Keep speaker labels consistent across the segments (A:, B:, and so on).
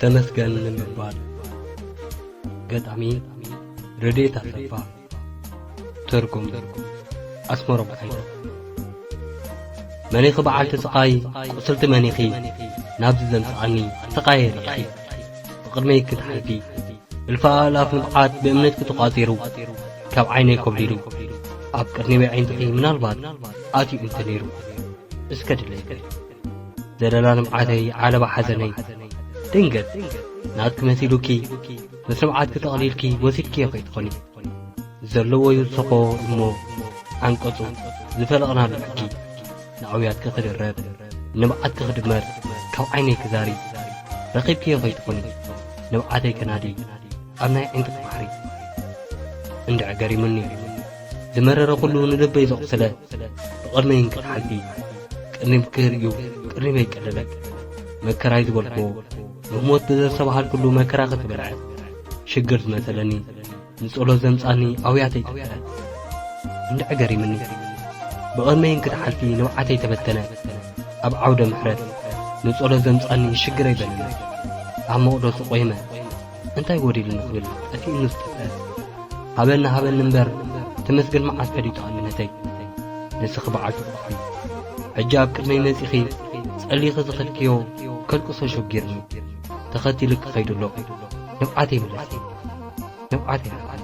A: ተመስገን ንምባል ገጣሚ ረድኤት ኣሰፋ ትርጉም ኣስመሮም ሓይሉ መኒኺ በዓልቲ ስቓይ ቁስልቲ መኒኺ ናብዚ ዘምጽኣኒ ስቓየ ርኢኺ ብቕድመይ ክትሓልፊ እልፊ ኣእላፍ ንብዓት ብእምነትኪ ተቋጺሩ ካብ ዓይነይ ኮብሊሉ ኣብ ቅድሚ በዒንትኺ ምናልባት ኣትዩ እንተ ነይሩ እስከ ድለይበይ ዘለና ልምዓተይ ዓለባ ሓዘነይ ድንገት ናትኪ መሲሉኪ ምስ ልምዓትኪ ጠቕሊልኪ ወሲድኪዮ ከይትኾኒ ዘለዎ ዩ ዝሰኾ እሞ ዓንቀጹ ዝፈለቕናሉ ሕጊ ንኣውያትኪ ክድረብ ንብዓትኪ ክድመር ካብ ዓይነይ ክዛሪ ረኺብኪዮ ከይትኾኒ ንብዓተይ ከናዲ ኣብ ናይ ዓይንትኺ ባሕሪ እንድዕገሪሙኒ ዝመረረ ኩሉ ንልበይ ዘቑስለ ብቕድመይ እንክትሓልፊ ቅሪብ ክርእዩ ቅሪበይ ቀለለ መከራይ ዝበልክዎ ንሞት ብዘሰብሃልኩሉ መከራ ክትበልዐ ሽግር ዝመሰለኒ ንጸሎት ዘምጻኒ ኣውያተይ ጠፈረ እንድዕ ገሪምኒ ብቕድመይ እንክትሓልፊ ንብዓተይ ተበተነ ኣብ ዓውደ ምሕረት ንጸሎት ዘምጻኒ ሽግረይ በለነ ኣብ መቕደሱ ቆይመ እንታይ ጎዲሉ ንኽብል ጠፊኡኒ ዝጠፍአ ሃበኒ ሃበኒ እምበር ተመስገን መዓስ ፈሊጡ ኣንነተይ ንስኺ በዓል ፍቕርኺ ሕጂ ኣብ ቅድመይ መጺኺ ጸሊኺ ዝኸድክዮ ከልቅሶ ሸጊርኒ ተኸቲሉ ክኸይዱ ኣለኹ ንብዓተይ ምለሲ ንብዓተይ ሃብኒ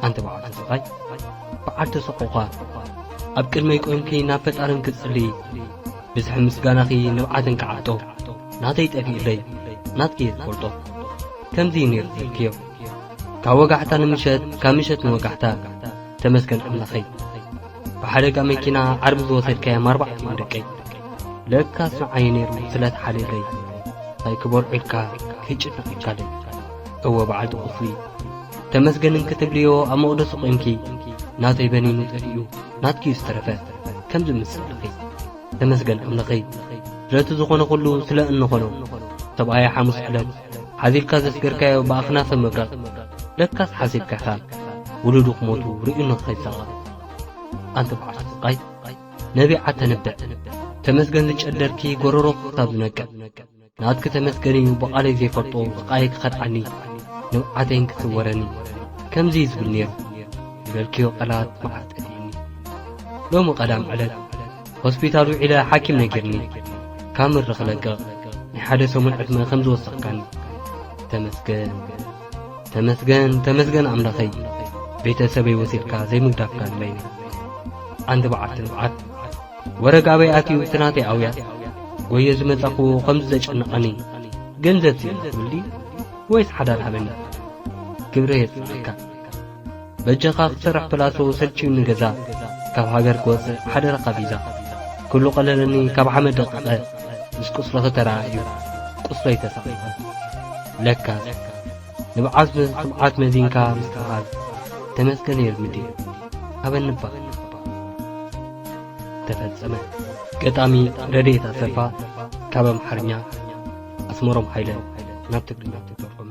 A: ኣንቲ በዓል ተሰቓይ በዓል ተሰቆዃ ኣብ ቅድመይ ቆይምኪ ናብ ፈጣርን ክትጽልይ ብዝሒ ምስጋናኺ ንብዓትን ክዓጦ ናተይ ጠፊኡለይ ናትኪ እየ ዝፈልጦ ከምዚ እዩ ነይሩ ትብልክዮ ካብ ወጋሕታ ንምሸት ካብ ምሸት ንወጋሕታ ተመስገን ኣምላኸይ ብሓደጋ መኪና ዓርቢ ዝወሰድካዮም ኣርባዕቲኦም ደቀይ ለካ ስምዓዩ ነይሩ ስለ ተሓልየለይ እንታይ ክበልዑ ኢልካ ከይጭነቐካለይ እወ በዓልቲ ቁስሊ ተመስገን እንክትብልዮ ኣብ መቕደሱ ቆይምኪ ናተይ በኒኑ ጠፊኡ ናትኪ እዩ ዝተረፈ ከምዚ ምስልኺ ተመስገን ኣምለኸይ ስለቲ ዝኾነ ኩሉ ስለ እንኾኖ ሰብኣያ ሓሙስ ዕለት ሓዚልካ ዘስገርካዮ ብኣኽናፈ ምብራቕ ለካስ ሓሲብካ ኢኻ ውሉዱ ክሞቱ ርእዩ ንኸይሳቐ ኣንቲ በዓል ስቓይ ነቢዓ ተንብዕ ተመስገን ዝጨደርኪ ጎረሮ ክሳብ ዝነቅዕ ናትኪ ተመስገን እዩ ብቓለይ ዘይፈልጦ ስቓየይ ክኸድዓኒ ንብዓተይን ክስወረኒ ከምዚ እዩ ዝብል ነይሩ ዝበልክዮ ቃላት መዓት ጠፊኡኒ ሎሚ ቀዳም ዕለት ሆስፒታል ውዒለ ሓኪም ነጊርኒ ካብ ምሪ ክለቅቕ ናይ ሓደ ሰሙን ዕድመ ከም ዝወሰኽካኒ ተመስገን ተመስገን ተመስገን ኣምላኸይ ቤተሰበይ ወሲድካ ዘይምግዳፍካ ንበይነ ዓንዲ በዓልቲ ንብዓት ወረግ ኣበይ ኣትዩ እቲ ናተይ ኣውያት ጎየ ዝመጻኽዎ ኸምዚ ዘጨነቐኒ ገንዘብ ስኢነ ትብል ድዩ ወይስ ሓዳር ሃበኒ ክብሪ የጽንዓካ በጃኻ ክሰርሕ ፕላሶ ሰልችዩኒ ገዛ ካብ ሃገር ክወጽእ ሓደራኻ ቪዛ ኩሉ ቀለለኒ ካብ ሓመድ ደቂቐ ምስ ቁስልኺ ተረኣእዩ ቁስለይ ተሳቒቐ ለካ ንብዓት ብትብዓት መዚንካ ምስትብሃል ተመስገን የብዲ ሃበንባ ተፈጸመ ገጣሚ ረድኤት ኣሰፋ ካብ ኣምሓርኛ ኣስመሮም ሓይለ ናብ ትግርኛ ተተርጎመ